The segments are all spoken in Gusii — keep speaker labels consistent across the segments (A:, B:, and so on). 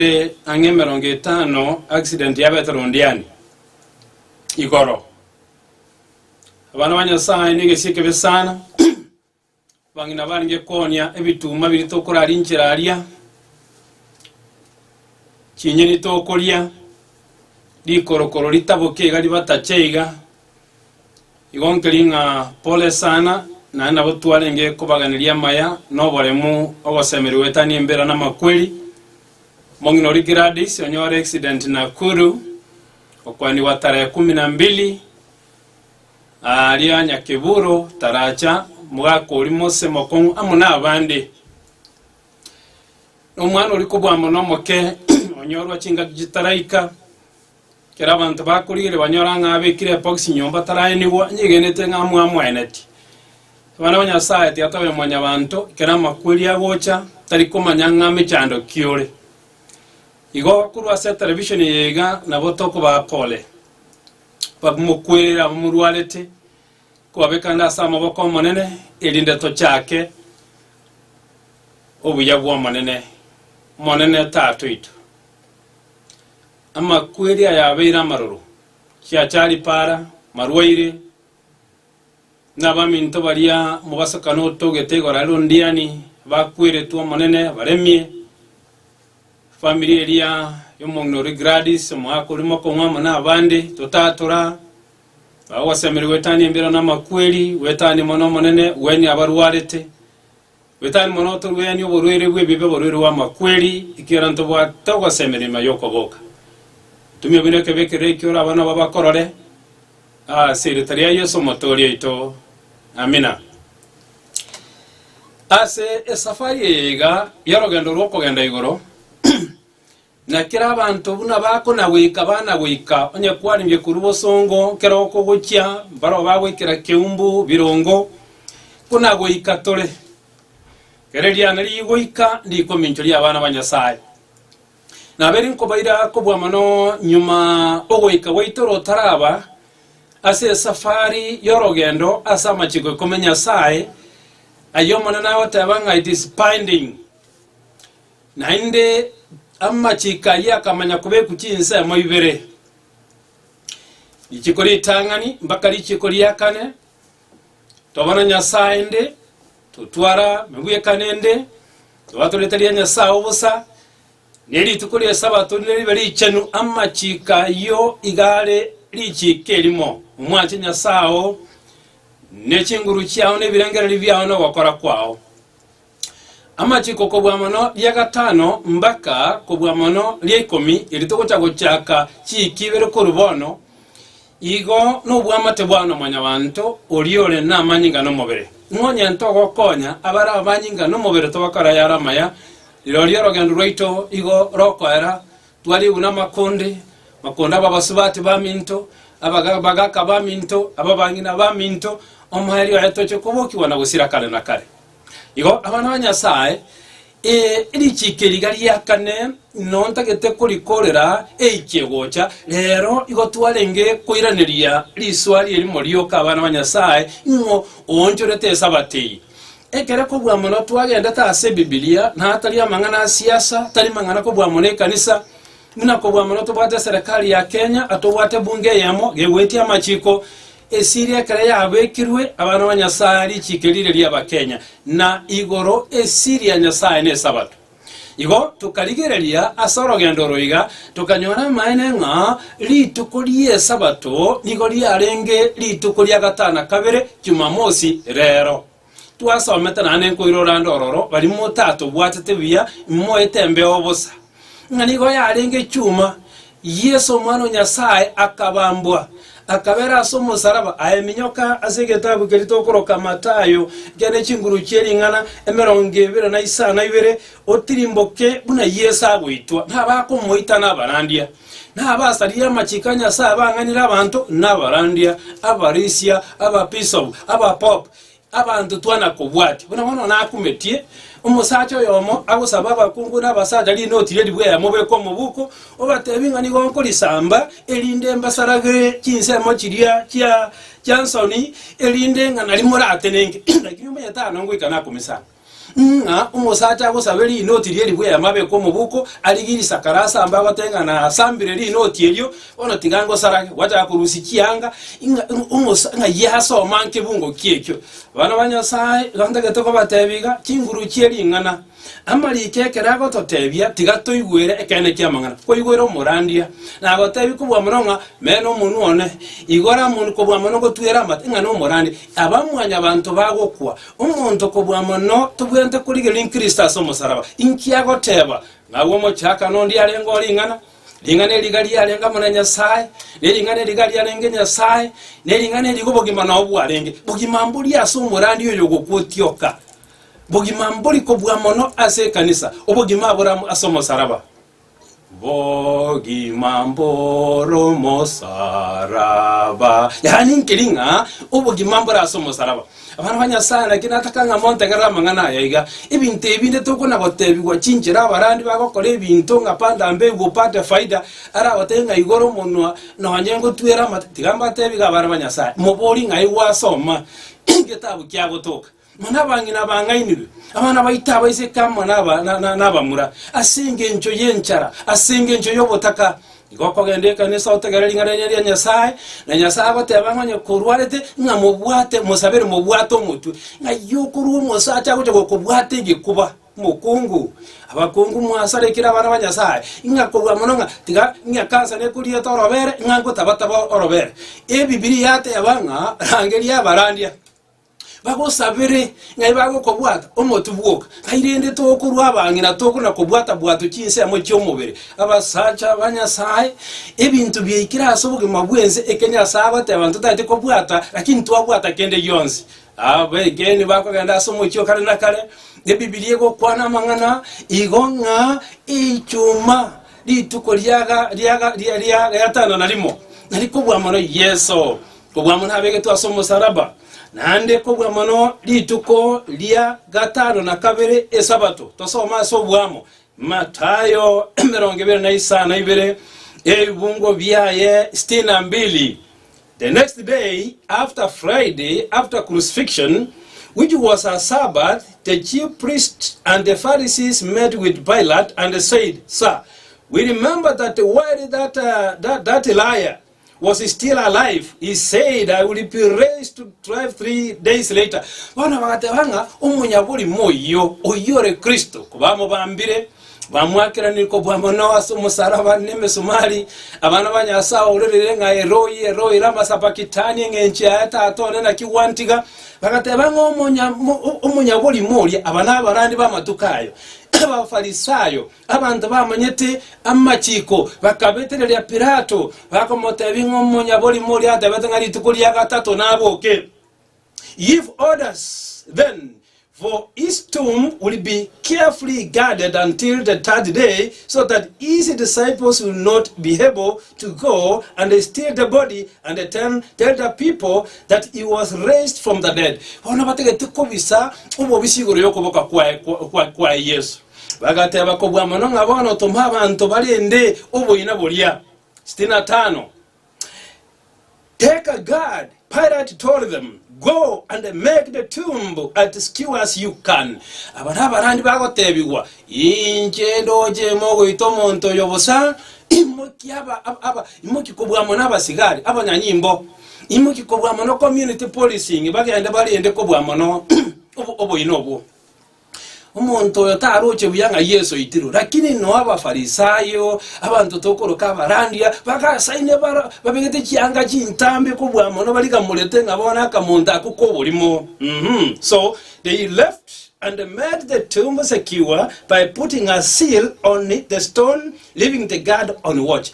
A: Ase ang'e emerongo etano accident yabete rondiani igoro. Abana ba Nyasaye ne egesie ekebe sana. Abang'ina barenge konia ebituma biri tokorarinchera aria. Chinyeni tokoria. Rikorokoro ritaboke iga ribatache iga. Igo nkeri ng'a pole sana, naende nabo twarenge kobaganeria amaya noboremu ogosemeria goetania embira namakweri. Omong'ina oria Gladys onyore accident Nakuru okwanigwa tarehe kumi na mbili aria Nyakeburo taracha, omogaka oria Mose Mokong'u amo nabande. Nomwana oria kobua mono omoke onyorwa chingaki chitaraika. Ekero abanto bakorigereria banyora ng'a abekire ebokisi nyomba taraenigwa, anyegenete ng'a amwamoeneti. Abana ba Nyasaye, Tata oye mwanyabanto, ekero amakweri agocha, tari komanya ng'a mechando ki ore. Igo korwa ase etelevishoni eye iga nabo tokobaa pole. Bamokwere abamorwarete, kobabeka nde ase amaboko 'Omonene, erinde tochake obuya bw'Omonene. Omonene Tata oito. Amakweri aya abeire amaroro, chiachari para, marwaire, na abaminto baria omobasokano otogete igoro are rondiani, bakweretwe Omonene, baremie. Efamiri eria y'omong'ina oria Gladys, omoaka oria mokong'u amo na abande, totatora. Bagosemeria goetania embiro na amakweri, goetania mono Omonene, gwenyia abarwarete. Gwe tari mono otorwenie oborwaire bw'ebibe, oborwaire bw'amakweri, ekiagera ntobwate ogoseemera nyuma y'okoboka. Ntumia buna ekebe keria ekio oraba nabo bakorore, ase erieta ria Yeso Omotooria oito. Amina. Ase esafari eye iga y'orogendo rw'okogenda igoro, Na kera abanto buna bakonagweka banagweka, onye kwarenge korwa bosongo kera oko gochia mbarao bagwekera keumbu birongo, konagweka tore. Kera eriana rigoika rikominchoria abana ba Nyasae. Nabo eri nkobaira kobua mono nyuma ogoika gwaito rotaraba ase esafari y'orogendo ase amachiko ikomi Nyasae, ay'Omonene agoteba ng'a it is binding. Naende amachiko ayio akamanya kobekwa chinsemo ibere, richiko ritang'ani mpaka richiko ria kane, Tobana Nyasae inde, totwara mebwekano inde, tobato rieta ria Nyasae obosa, ne rituko ri'Esabato nire ribe richenu. Amachiko ayio iga are richiko erimo, Omwache Nyasae oo, ne chinguru chiao, ne ebirengererio biao, ne ogokora kwao. Amachiko kobua mono ria gatano mbaka kobua mono ria ikomi, eri togocha gochaka chiiki ibere korwa bono, igo nobwamate bwao na mwanyabanto oria ore namanyinga nomobere. Nonya ntogokonya abare abamanyinga nomobere togakora ayare amaya, rirorio orogendo rwaito igo rokoera, twariegwe namakonde, makonde aba abasubati baminto, abaga- bagaka baminto, ababang'ina baminto, omoerio oye toche kobokigwa na gosira kare na kare. Igo abana ba Nyasae, ee, richiiki riga riakane inwe ntagete korikoorera eichie gocha, reero igo twarenge koiraneria risoa rie rimo rioka abana ba Nyasae ng'o oonchorete Esabato eye. Ekere kobua mono twagendete ase Ebibilia, na atari amang'ana a siasa, tari mang'ana kobua mono ekanisa, buna kobua mono tobwate eserekari ya Kenya, atobwate ebunge eyemo, gegoetia amachiiko, Esiri ekero yabekirwe abana ba Nyasae richiko riria ri'Abakenya na igoro esiri ya Nyasae ne Esabato. Igo tokarigereria ase orogendo oro iga tokanyora amaene ng'a rituko ri'Esabato nigo riarenge rituko ria gatana kabere, Jumamosi, rero. Twasomete naende nkoirora nde ororo baria motatobwatete buya moete embeo bosa, ng'a nigo yarenge chuma, Yeso Omwana o Nyasae akabambwa, akabera ase omosaraba, aa eminyoka ase egetabu keria tokoroka Matayo gene chinguru chie ring'ana emerongo ebere na isano na ibere, otirimboke buna Yeso agoitwa, nabakomoita nabarandia. Nabasaririe amachiko a Nyasae abang'anire abanto, na abarandia, abarisia, abapisop, abapope, abanto twana kobwatia. Buna bono nakumetie omosacha oyomo agosabe abakungu na abasacha rinoti ria ribuya yamo beke omobuko, obatebi ng'a nigo nkorisamba, erinde mbasaragere chinsemo chiria chia chiansoni, erinde ng'a nari moratenenke. Lakini omonyaitano ngoika nakomisanga. ng'a omosacha agosabe rinoti rie ribuya ya mabeko omobuko arigie risakara ase ambe agoteba ng'a nasambire rinoti erio bono tiga ngosarage gwachaka korusia chianga ng'a omosa ng'a yie ase omanke bungoki ekio abana ba Nyasaye gantagete kobatebia iga chinguru chie ring'ana amariko ekero agototebia tiga toigwere ekeene ki'amang'ana koigwera omorandia nagotebia kobua mono ng'a mena omonwa one igora mon kobua mono gotwera amate ng'a nomorandia aba mwanyabanto bagokwa Omonto kobua mono tobwenerete korigereria nkristo ase omosalaba. Inki agoteba? Ng'agwe omochakano onde arenge o ring'ana, ring'ana eri iga riarenge amo na Nyasae, ne ring'ana eri iga riarenge Nyasae, ne ring'ana eri iga obogima nao bwarenge. Bogima mbori ase omorandi oyo ogokwa otioka. Bogima mbori kobua mono ase ekanisa. Obogima abore amo ase omosalaba. Bogima mbore omosaraba. Yaani nkeri ng'a obogima mbore ase omosaraba. Abana ba Nyasaye naki nataka ng'a montegerere amang'ana aya iga. Ebinto ebi nde tokona gotebigwa chinchera abarandi bagokora ebinto ng'a panda mbegu upate faida, aragotebie ng'a igora omonwa nonye ngotwere amate. Tiga mbatebie iga abana ba Nyasaye, moborie ng'a aigwa asoma egetabu kia Gotoka. Mana abang'ina bang'ainigwe, abana baito abaiseke amo nabamura, ase engencho y'enchara, ase engencho y'obotaka. Igo okogenda ekanisa otegere ring'ana riane ria Nyasae, na Nyasae agoteeba ng'a onye korwarete ng'a mobwate mosabere mobwate omotwe, ng'ai okorua omosacha agocha gokobwata egekuba, mokungu? Abakungu mwasare ekero abana ba Nyasae, ng'a korwa mono ng'a tiga ng'a kansa nekoriete orobere ng'a ngotabataba orobere. Ebibilia yateba ng'a rangeria abarandia. bagosabere ng'ai bagokobwata omotu bwoka, tai rende tokorwa abang'ina tokona kobwata bwato chinsemo chi'omobere. Abasacha ba Nyasae, ebinto biaikire ase obogima bw'ense eke Nyasae agoteba ntotaete kobwata, lakini twabwata kende gionsi. Abegenwa bakogenda ase omochie o kare na kare, Ebibilia egokwana amang'ana igo ng'a Echuma rituko riaga riaga ria ria gatano na rimo narikobua mono Yeso. kobua mono abegetwe ase omosalaba, naende kobua mono rituko ria gatano na kabere, Esabato. Tosome ase oboamo, Matayo emerongo ebere na isano na ibere, ebibungo biaye sitini na mbili. The next day after Friday, after crucifixion, which was a Sabbath, the chief priests and the Pharisees met with Pilate and said, Sir, we remember that while that, uh, that, that liar was still alive, he said, I will be raised to life three days later. Bono bagateba ng'a omonyaborimo oyio, oyio ore Kristo, kobamobambire, bamwakeranire kobua mono ase omosaraba nemesumari, abana ba Nyasae aorerire ng'a Eroi, Eroi, lama sabakitani, eng'encho yaye Tata one, naki gwantiga? Bagateba ng'a omonya- mo- o- omonyaborimo oria, aba nabarandi b'amatuko ayo, Abafarisayo, Abanto bamanyete amachiiko bakabetereria Pilato, bakomoteebia ng'a omonyaborimo oria atebete ng'a rituko ria gatato naboke. Give orders, then, for his tomb will be carefully guarded until the third day, so that his disciples will not be able to go and steal the body and then tell the people that he was raised from the dead. Bono batagete kobisa obobisi igoro y'okoboka kwaye, kwa, kwa, kwaye Yesu. Bagateba, Kobua mono ng'a bono tome abanto barende oboina boria. 65 Take a guard, Pilate told them, go and make the tomb at secure as you can. Aba nabarandi bagotebigwa, Inche ndoche ime ogoita omonto oyo bosa, imoki aba, aba, aba, imoki kobua mono abasigari, abanyanyimbo, imoki kobua mono community policing, bagende barende kobua mono obo- oboina obwo. Omonto oyo taroche buya ng'a Yeso aitirwe. Lakini inwe Abafarisayo, abanto tokoroka abarandia, bagasaine bara babegete chianga chintambe kobua mono barigamorete ng'a bono akamonto ako k'oborimo. Mhm. So they left and made the tomb secure by putting a seal on the stone, leaving the guard on watch.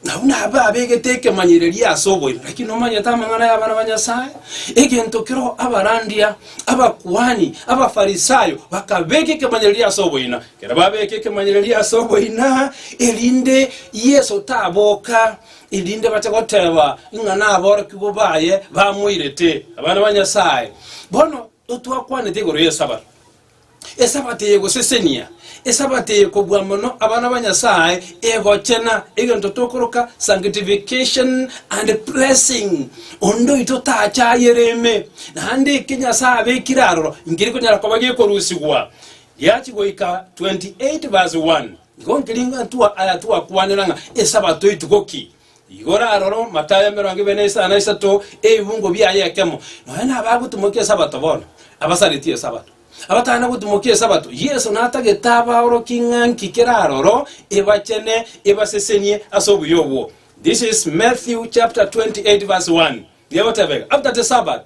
A: Na buna abe abegete ekemanyererio ase oboime, naki nomanyete amang'ana y'abana ba Nyasae, egento keroo abarandia, abakuani, Abafarisayo bakabeka ekemanyererio ase oboina, kera babeke ekemanyererio ase oboina, erinde Yeso taboka, erinde bache goteba ng'a naborokigwa baye bamoirete. Abana ba Nyasae, bono totwakwanete igoro y'Esabato. Esabato eye egosesenia, Esabato eye kobua mono abana ba Nyasaye egochena, egento tokoroka sanctification and blessing. Onde oito tachayere ime, naende eke Nyasaye abekire aroro nkeri konyara koba gekorusigwa. Giachi goika 28 verse 1 nigo nkeri ntwa aya twakwanera ng'a Esabato etuko ki? Igoro aroro amatayo emerongo ebere na isano na isato ebimungo biaye ekemo. Nonya nabe agotimokia Esabato bono? Abasareti Esabato. Abatana gotimokia Esabato? Yeso natagete abaorokia ng'a nki kera aroro ebachene ebasesenie ase obuya obwo. This is Matthew chapter 28 verse 1. Nigo egoteba ega, After the Sabbath,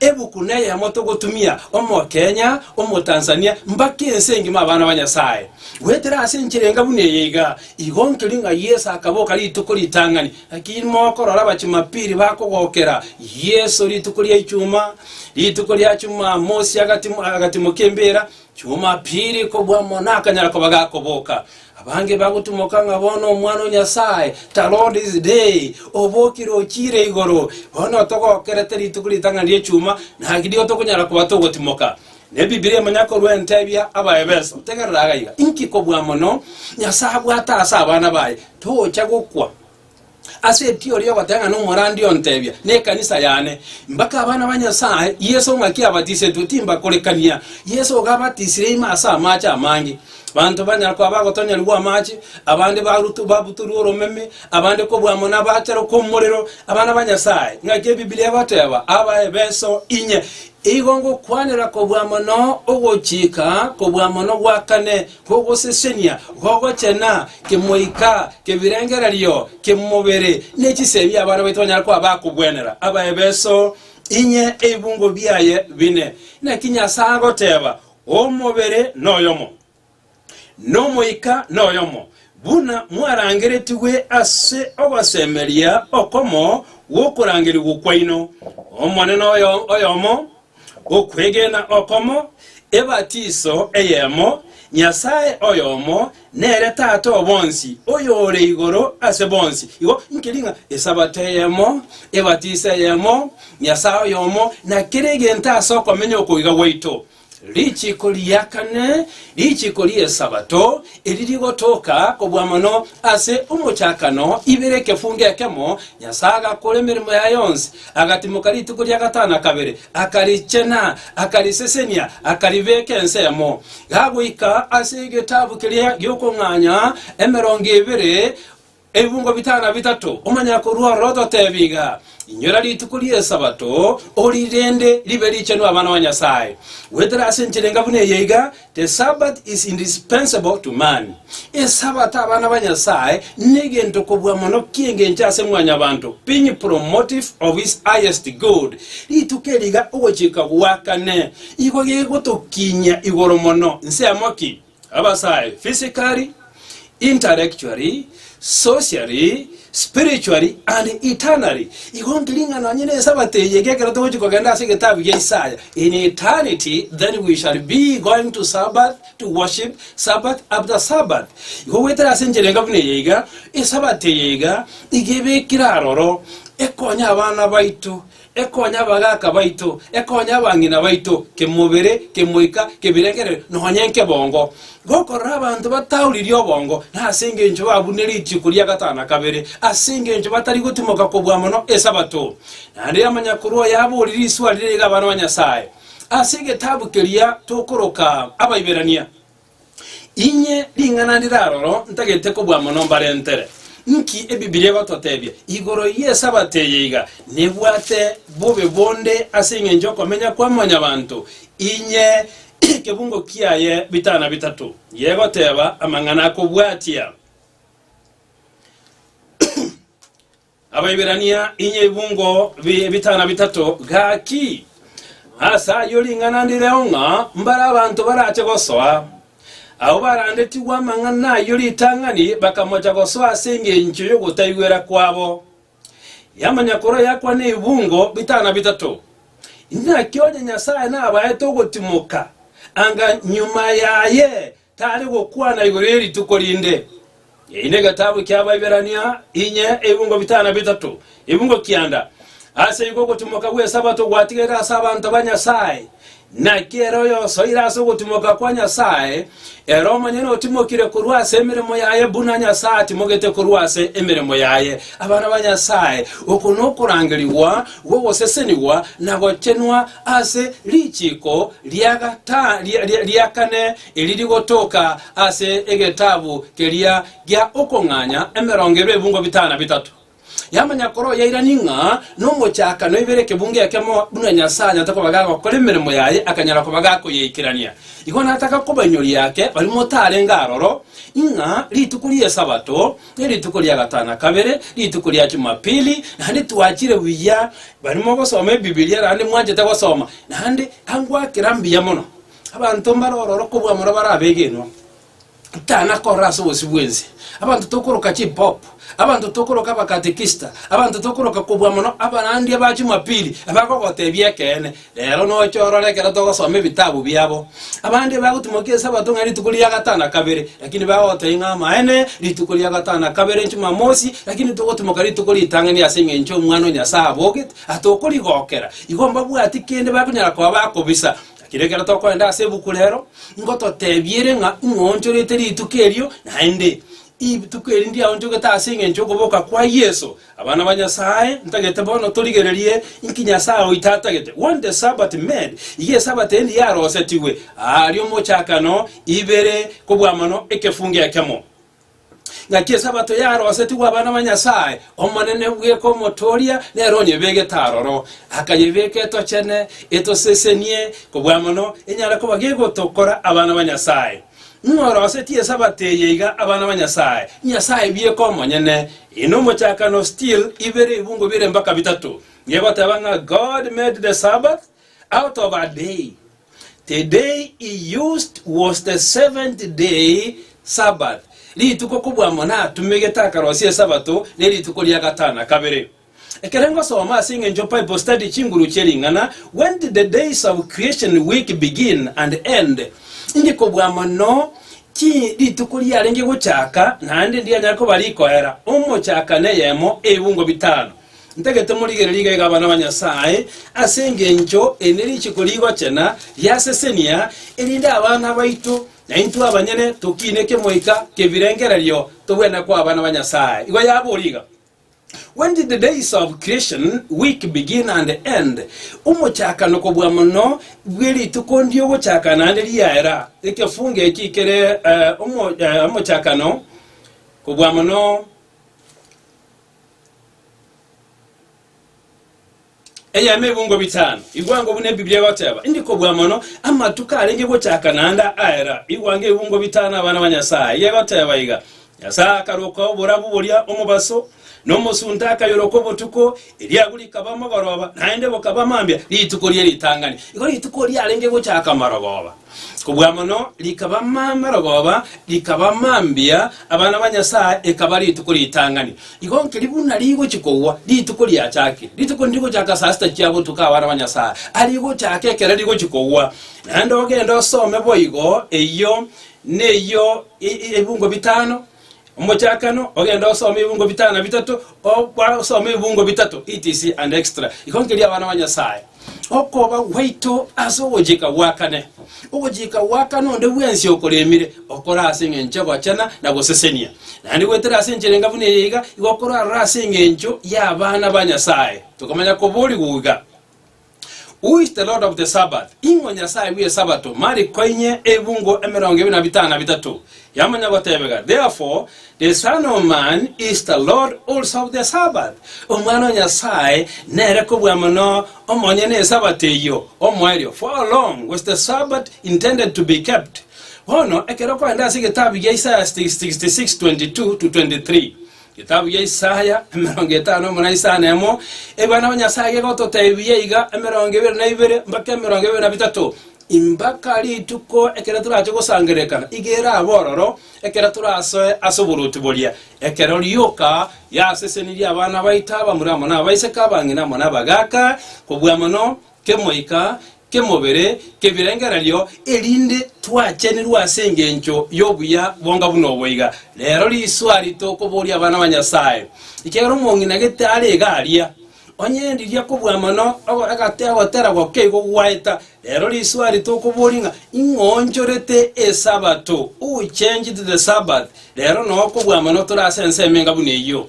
A: Ebuku neyemo togotumia Omokenya, Omotanzania, mbaka ense engima abana ba Nyasaye. Goetera ase enchera enga buna eye iga, igo nkeri ng'a Yeso akaboka rituko ritang'ani. Naki mokorora Abachumapili bakogokera Yeso rituko ria Ichuma, rituko ria Chumamosi agatimo, agatimo k'embeera, Chumapili kobua mono akanyara koba gakoboka. Abange bagotumoka ng'a bono Omwana o Nyasae taroo this day, obokire ochiire igoro, bono otogokerete rituko ritang'ani ri'echuma, naki nigo tokonyara koba togotimoka. Nebibilia manya korwa entebia Abaefeso, tegerera aiga, inki kobua mono Nyasae abwate ase abana baye, tocha gokwa. Ase erio oria ogoteng'ena omorandi ontebia, Nekanisa yane, mbake abana ba Nyasae, Yeso ng'aki abatisetwe, timbakorekania. Yeso iga abatisire ime ase amache amange. Banto banyara koa bagotonyerigwa amache, abande barutu- babutorwe oromeme, abande kobua amo nabaachere kw'omorero. Abana ba Nyasae, ng'aki Ebibilia egoteba, Aba ebeso inye. Igo ngokwanera kobua mono ogochika kobua mono gwakane, Gogosesenia gogochena kemoika kebirengererio ki'mobere ne chisemi abana baito banyare koba bakogwenera abaebeso inye ebibungo biaye bine. Naki Nyasae agoteba, Omobere noyomo, nomoika noyomo, buna mwarangeretigwe ase ogosemeria okomo gw'okorangerigwa kwaino, Omonene oyomo, Okwegena okomo, ebatiso eyemo, Nyasae oyomo, nere Tata o bonsi, oyore igoro ase bonsi. Igo nkeri ng'a Esabato eyemo, ebatiso eyemo, Nyasae oyomo, na kera egento ase okomenya okoiga gwaito. Richiko ria kane, richiko ri'Esabato, eri rigotoka kobua mono ase omochakano, ibere ekefungo ekemo, Nyasae agakora emeremo yaye yonsi. Agatimoka rituko ria gatano na kabere, akarichena, akarisesenia, akaribeka ensemo. Gagoika ase egetabu keria gi'okong'anya emerongo ebere ebibungo bitano na bitato, omonyakorua ororo ototebia iga, Inyora rituko ri'Esabato, orirende ribe richenu abana ba Nyasae. Goetera ase enchera enga buna eye iga The Sabbath is indispensable to man, Esabato abana ba Nyasae negento kobua mono ki'engencho ase mwanyabanto, being promotive of his highest good, rituko eri iga ogochika gwakane igo gegotokinyia igoro mono, nsemo ki? Abasae, physically, intellectually, socially, spiritually, and eternally. Igo nkiring'ana onye ne Esabato eye, iga ekero togochi kogenda ase egetabu gia Isaya, in eternity, then we shall be going to Sabbath, to worship Sabbath after Sabbath. Igo goetera ase enchera enga buna eye iga, Esabato eye iga, iga ebekire aroro, ekonya abana baito, Ekonya abagaaka baito, ekonya abang'ina baito, kemobere, kemoika, kebirengererio, nonya nkebongo, gokorora abanto batauririe obongo, na ase engencho babune rituko ria gatano na kabere, ase engencho batari gotimoka kobua mono Esabato. Naende Yamanyakoro oye aboorire iswa riria iga abana ba Nyasae, ase egetabu keria tokoroka Abaiberania. Inye ring'ana ndire aroro ntagete kobua mono mbarentere. Nki Ebibilia egototebia igoro y'Esabato eye iga nebwate bobe bonde ase engencho y'okomenya kwa mwanyabanto? Inye ekebungo kiaye bitana bitato yegoteba amang'ana akobwatia. Abaiberania, inye ebungo bi- bitana bitato, gaki ase ayio ring'ana ndireo ng'a mbare abanto barache gosoa. Abwo barandetigwe amang'ana ayio ritang'ani bakamocha gosoa ase engencho y'ogotaigwera kwabo. Y'amanyakoro yakwa nebungo bitana bitato. Inaki onye Nyasae nabaete ogotimoka anga nyuma yaye Tari gokwana igoro ye rituko rinde. Eyi negetabu kia Abaiberania inye ebungo bitana bitato, ebungo kianda. Ase igo ogotimoka gw'Esabato gwatigaire ase abanto ba Nyasae. Naki ere oyosoire ase ogotimoka kwa Nyasae, ere omonyene otimokire korwa ase emeremo yaye buna Nyasae atimogete korwa ase emeremo yaye abana ba Nyasae. Oko nokorangerigwa bw'ogosesenigwa na gochenwa ase richiiko ria kane eri rigotoka ase egetabu keria gia Okong'anya emerongo ebe ebungo bitano na bitato. Yamanya kore oyairani ng'a nomochakano ibere ekebungo ekemo buna Nyasae anyarete koba gagokora emeremo yaye akanyara koba gakoyeikerania. Igo nataka kobainyoria ake baria motarenge aroro, ng'a rituko ri'Esabato Ne rituko ria gatana kabere, rituko ria Chumapili, naende twachire buya, barimo gosoma Ebibilia, naende mwanchete gosoma, naende angwakera mbuya mono. Abanto mbare ororo kobua mono bare abegenwa, tana korora ase obosio bwense, abanto tokoroka chipop, abanto tokoroka abakatekista, abanto tokoroka kobua mono abarandia ba Chumapili, abagogotebia ekeene. Reero noche orore ekero togosoma ebitabu biabo. Abande bagotimokia Esabato ng'a rituko ria gatano na kabere, lakini bagotebia ng'a amaene rituko ria gatano na kabere Jumamosi, lakini togotimoka rituko ritang'ani ase engencho Omwana o Nyasae abogete, aa tokorigokera. Igo mbabwati kende bakonyara koba bakobisa. Lakini ekero tokorenda ase ebuku reero, ngototebia ere ng'a ing'oonchorete rituko erio, naende rituko eri ndiaonchogete ase engencho y'okoboka kwa Yeso. Abana ba Nyasae, ntagete bono torigererie inki Nyasae oito atagete, When the Sabbath made, iga Esabato endi yarosetigwe, aa riomochakano, ibere, kobua mono ekefungo ekemo. Ngaki Esabato yarosetigwe abana ba Nyasae, Omonene bweka Omotooria nere onyebegete aroro, akayebeka etochene, etosesenie, kobua mono enyare koba gegotokora abana ba Nyasae. Ng'a orosetie Esabato eye iga abana ba Nyasae, Nyasae bieka omonyene, ina omochakano still ibere ebungo bire mpaka bitato, nigo egoteba ng'a God made the Sabbath out of a day. The day he used was the seventh day Sabbath. Rituko kobua amo natumegete akarosia Esabato nerituko ria gatano na kabere. Ekero ngosoma ase eng'encho Bible Study chinguru chie ring'ana When Did the Days of Creation Week Begin and End? inche kobua mono ki rituko riarenge gochaka naende ndianyare koba rikoera, omochaka na eyemo, ebungo bitano. Ntagete morigererie iga iga abana ba Nyasae, ase engencho eri ne richiko rigochena riasesenia, erinde abana baito na intwe abanyene tokiine kemoika kebirengererio tobwene koa abana ba Nyasae. Igo yaboria iga. When did the days of creation week begin and end? Omochakano kobua mono bwe rituko ndiogochaka naende riaera. Ekefungo eki kere eh, omo, eh, omochakano kobua mono Eyemo ebungo bitano, igwango buna Ebiblia egoteba, Indi kobua mono, amatuko arenge gochaka naende aera, igwango ebungo bitano abana ba Nyasae. Eye egoteba iga, Nyasae akaroka oborabu boria omobaso, na omosunte akayoroka obotuko, eriabu rikaba amagoroba, naende bokaba mambia, rituko rie ritang'ani. Igo rituko riarenge gochaka amarogoba. Kobua mono rikaba mama rogoba, rikaba mambia, abana ba Nyasae ekaba rituko ritang'ani. Igo nkeri buna rigochia kogwa, rituko riachakia. Rituko nirigochaka saa sita chia botuko abana ba Nyasae, arigochaka ekero rigochia kogwa. Naende ogende osome boigo, eyio neyio e- e- ebungo bitano, Omochakano ogende osome ebungo bitano na bitato, o- gwasoma ebungo bitato etc and extra. Igo nkeria abana ba Nyasaye, okoba gwaito ase ogochika gwakane. Ogochika gwakane onde bwensi okoremire, okore ase engencho egochena na gosesenia. Naende gwetere ase enchera enga buna eye iga, igo okorarore ase engencho y'abana ba Nyasaye. Tokomanya koborigwa iga. Who is the Lord of the Sabbath? Ing'o Nyasae bw'Esabato? Marik koinye ebungo emerongo ebere na bitano na bitato. Yamanya gotebega, Therefore, the Son of Man is the Lord also of the Sabbath. Omwana o Nyasae nere kobua mono omonyene Esabato eyio, omoerio, for how long was the Sabbath intended to be kept? Bono, ekero okorenda ase egetabu gia Isaya 66:22-23, Getabu gia Isaya, emerongo etano buna isano na emo, Ebiana ba Nyasae gegototeebia iga, emerongo ebere na ibere mpaka emerongo ebere na bitato, Mpaka rituko ekero torache gosangererekana, iga erabe ororo, ekero torasoe ase oboruoti boria, ekero rioka riasesenirie abana baito abamura amo nabaiseke, abang'ina amo nabagaaka, kobua mono kemoika, kemobere, kebirengererio, erinde twachenirwe ase engencho y'obuya bonga buna oboiga. Rero riswari tokoboria abana ba Nyasae, ekiagera omong'ina gete are iga aria, onye ndiria kobua mono ogo egate ogotera gokia igo gwaeta. Rero riswari tokoboria ng'a ing'oonchorete Esabato, who changed the Sabbath? Rero noo kobua mono tore ase ensemo enga buna eyio.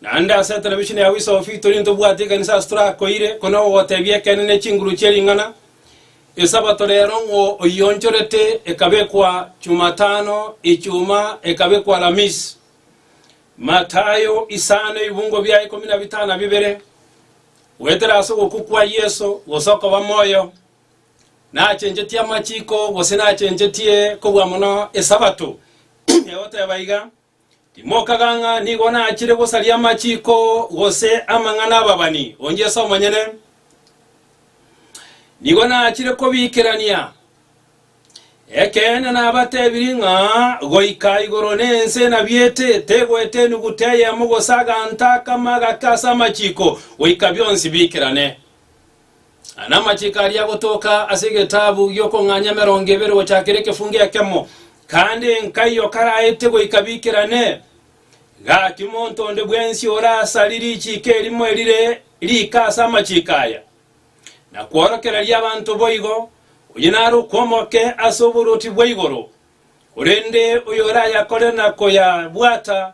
A: Naende ase television ya Wiso of Victory ntobwati ekanisa ase torakoire ko na ogotebia ekeene ne chinguru chie ring'ana. Esabato rero ng'o oyionchorete ekabekwa Chumatano, Echuma ekabekwa Alamisi. Matayo isano ebibungo bia ikomi na bitano na bibere. Goetera ase ogokwa kwa Yeso gose okoba moyo. Nachenchetie amachiko gose nachenchetie kobua mono Esabato. Egoteba iga. Timokaga ng'a nigo nachire gosaria amachiiko gose amang'ana ababani, onye Yeso omonyene nigo nachire kobiikerania. Ekeene nabatebirie ng'a goika igoro na ense nabiete, tegoeta enuguta eyemo gose aganto akamo agake ase amachiiko, goika bionsi biikerane. Anamachiko aria agotoka ase egetabu gi'okong'anya emerongo ebere gochakera ekefungo ekemo, kandi nkai o karaete goika biikerane. Gaki monto onde bwensi ore asari richiiko erimo erire riika ase amachiko aya, na kworokereria abanto boigo, oyio nare okw'omoke ase oboruoti bwa igoro, korende oyorayakorere na koyabwata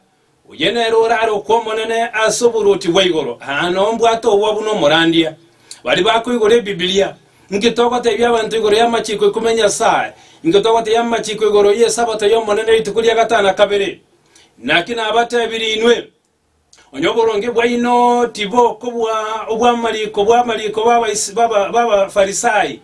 A: Oye nere orare okw'Omonene ase oboruoti bwa igoro, aa nombwate oboa buna omorandia. Baria bakoigora Ebibilia, Inki togoteebia abanto igoro y'amachiiko ikume ya Nyasae? Inki togoteebia amachiiko igoro y'Esabato y'Omonene rituko ria gatano na kabere? Naki nabateebirie inwe, onye oboronge bwaino tibokobua obw'amariko bw'amariko b'Abafarisai.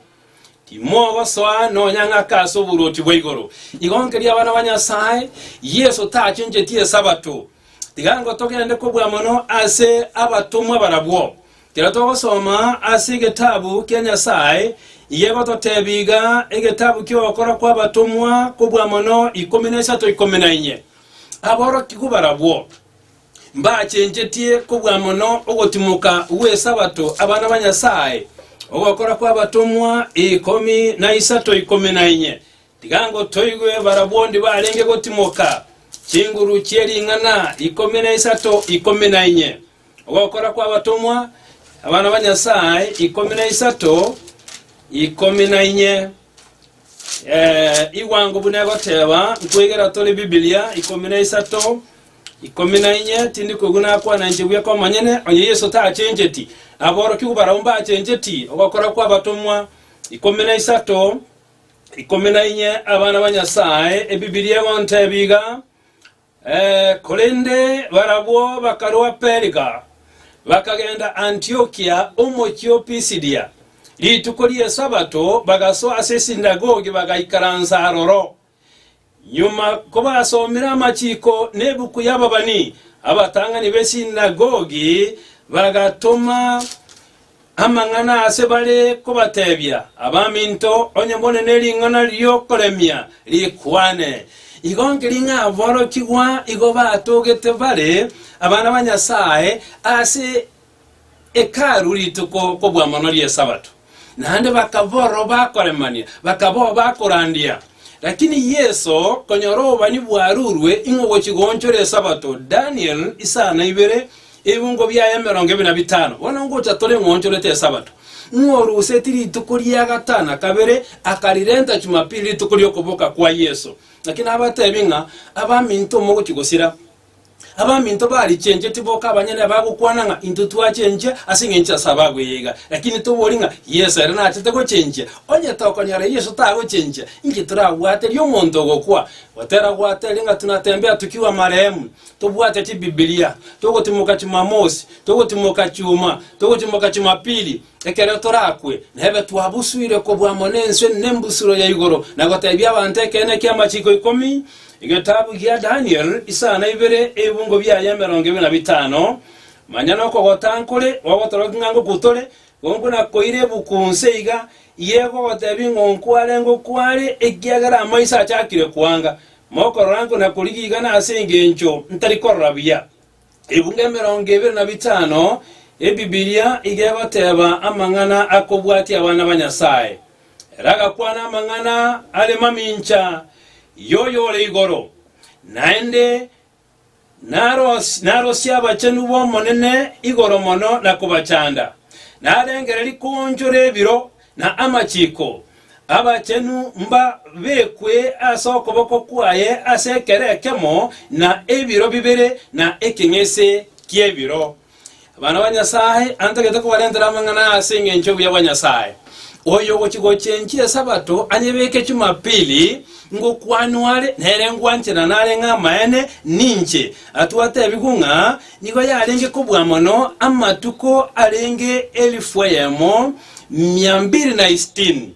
A: Timogosoa nonya ng'ake ase oboruoti bwa igoro. Igo nkeria abana ba Nyasae, Yeso tachencheti Esabato. Tiga nko togende kobua mono ase abatomwa barabwo. Kero togosoma ase egetabu kia Nyasae, igegototebi iga, egetabu ki'ogokora kwa abatomwa kobua mono ikomi na isato ikomi na inye. Aborokigwa barabwo. Mbachenchetie kobua mono ogotimoka gw'Esabato abana ba Nyasae, ogokora kw'abatomwa ikomi na isato ikomi na inye. Tiga ngotoigwe barabwo onde barenge gotimoka chinguru chie ring'ana ikomi na isato ikomi na inye. Ogokora kw'abatomwa abana ba Nyasae ikomi na isato ikomi na inye. Eh, igwango buna egoteba nkwegera tore Biblia ikomi na isato Ikomi na inye, Tindi koigwa nakwananche buya kw'omonyene, onye Yeso tachencheti, aborokigwa barabwo mbachencheti, ogokora kw'abatomwa. Ikomi na isato, Ikomi na inye, Abana ba Nyasaye, Ebibilia egontebia iga, eh, korende barabwo bakarua Perga, bakagenda Antiokia, omochie o Pisidia. Rituko ri'Esabato bagasoa ase esinagogi bagaikaransa aroro. Nyuma kobasomire amachiiko nebuku y'ababani, abatang'ani b'esinagogi bagatoma amang'ana aase bare kobateebia, Abaminto, onye more nering'ana ri'okoremia rikwane, igo nkeri ng'a aborokigwa igo batogete bare abana ba Nyasae ase Hekalu rituko kobua mono ri'Esabato, naende bakaba ororo bakoremania, bakaba oo bakorandia. Lakini Yeso, konyora obobani bwarurwe ing'o gochia goonchora Esabato, Daniel isaa na ibere, ebibungo biaye emerongo ebere na bitano, bono ngocha tore ng'a oonchorete Esabato, ng'a orusetie rituko ria gatano na kabere, akarirenta Chumapili, rituko ri'okoboka kwa Yeso. Lakini abateebie ng'a, Abaminto mogochia gosira. Abaminto barichencheti boka abanyene abagokwana ng'a intwe twachenchia ase engencho ase ababuya iga, lakini tobori ng'a Yeso ere nachete gochenchia. Onye tokonyora Yeso tagochenchia, inki torabwaterie omonto ogokwa? Goterabwateria ng'a tunatembea tokiwa amaremu, tobwate chibibilia, togotimoka chimamosi, togotimoka chiuma, togotimoka chimapili, Ekero torakwe, nebe twabusuire kobua mono ense nembusuro ya igoro, na goteebia abanto ekeene ki'amachiko ikomi, egetabu gia Daniel, isaa na ibere, ebibungo biaye emerongo ebere na bitano. Manya nokogota nkore gogotorokia ng'a ngokwu tore, ngokwu nakoire ebuku nse iga, ye gogoteebia ng'onkwu are ngokwu are, ekiagera amaiso achakire kwanga, mokorora nkwe nakorigia igana ase engencho ntari korora buya. Ebungo emerongo ebere na bitano, Ebibilia iga egoteba amang'ana akobwatia abana ba Nyasae. Ere agakwana amang'ana are mamincha y'Oyo ore igoro, naende narosie abachenu b'Omonene igoro mono na kobachanda. Narengererie koonchora ebiro, Na amachiko, abachenu mbabekwe ase okoboko kwaye ase ekero ekemo na ebiro bibere na ekeng'ese ki'ebiro. Abana ba Nyasae, antagete kobarentera amang'ana aya ase engencho y'obuya bwa Nyasae. Oyogochia gochia enchili Esabato anyebeke Chumapili, ngokwanwa are, nere ngwanche na nareng'e amaene, ninche. Atwo atebigwe ng'a nigo yarenge kobua mono amatuko arenge elifu eyemo, mia mbiri na isitini.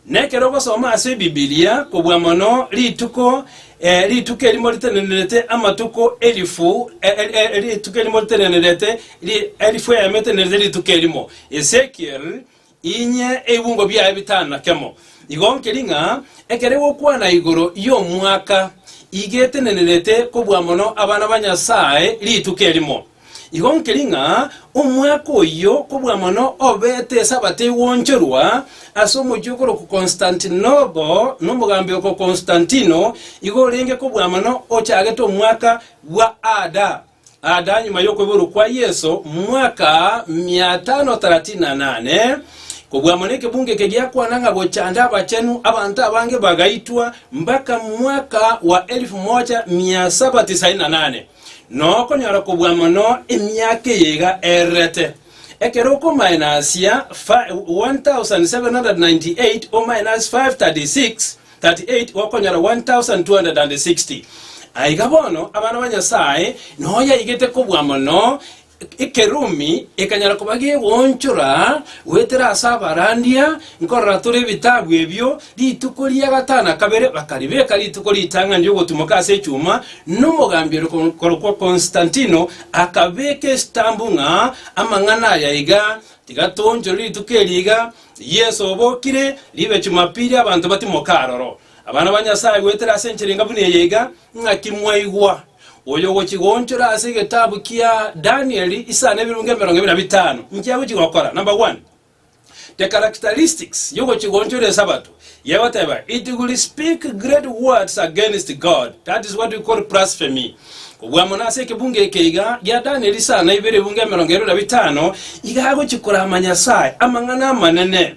A: Na ekero ogosoma ase Ebibilia kobua mono rituko eh, rituko erimo ritenenerete amatuko elifu, eh, eh, eh, rituko erimo ritenenerete ri- elifu eyemo etenerete rituko erimo. Ezekiel, inye ebibungo biaye bitano na kemo. Igo nkeri ng'a ekero egokwana igoro y'omwaka iga etenenerete kobua mono abana ba Nyasae rituko erimo. Igo nkeri ng'a omwaka oyio kobua mono obete Esabato egwonchorwa ase omochie okorokwa Konsitantinopo nomogambi oko Konstantino, igo orenge kobua mono ochagete omwaka bwa Ada. Ada nyuma y'okoiborwa kwa Yeso mwaka 538, kobua mono ekebungo eke giakwana ng'a gochande abachenu abanto abange bagaitwa mpaka mwaka wa 1798. Na okonyora kobua mono emiaka eye iga ererete, ekero okomainasia 1798 omainasi 536 gokonyora 1260. Aiga bono abana ba Nyasae noyaigete kobua mono Ekerumi ekanyara koba gegoonchora goetera ase abarandia, nkorora tore ebitabu ebio, rituko ria gatano na kabere bakaribeka rituko ritang'ani ri'ogotumoka ase echuma, na omogambi ore korokwa Konstantino akabeka esitambu ng'a amang'ana aya iga, Tiga toonchore rituko eri iga, Yeso obokire, ribe Chumapili abanto batimoke aroro. Abana ba Nyasae, goetera ase enchera enga buna eye iga, ng'aki mwaigwa oyogochigonchora ase egetabu kia Danieli isano ebirunge emerongo ebe na bitano inki agochigokora? Number one, the characteristics yogochigonchora Esabato yegoteba it will speak great words against God, that is what we call blasphemy. Kobua mono ase ekebungo eke iga gia Danieli isano ibere ebunge emerongo ebe na bitano iga agochikoraama Nyasae amang'ana amanene.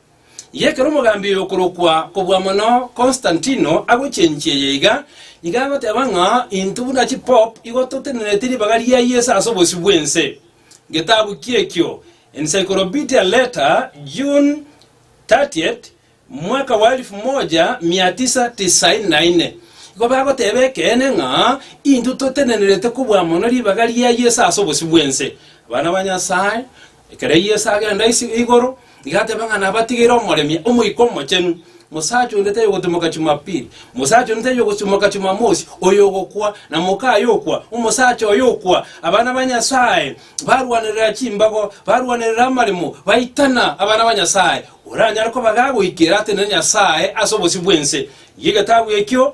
A: Y'ekero omogambi okorokwa kobua mono Konstantino agochia enchie eye iga, iga agoteba ng'a intwe buna chipope igo totenenetie ribaga ria Yeso ase obosio bw'ense. Getabu ki'ekio, Encyclopedia Letter, June 30th, 1994, igo bagoteba ekeene ng'a intwe totenenerete kobua mono ribaga ria Yeso ase obosio bw'ense. Abana ba Nyasae, Ekero Yeso agenda ase igoro, nigo ateba ng'a nabatigeire omoremia, Omoika Omochenu, mosacha onde tari ogotimoka Chumapili, mosacha onde tari ogotimoka Chumamosi, oyo ogokwa, na moka aye okwa, omosacha oye okwa. Abana ba Nyasae barwanerera chimbago, barwanerera amaremo, baitana abana ba Nyasae. Oranyare koba gagoikera atenene Nyasae ase obosio bw'ense, rigia egetabu ekio,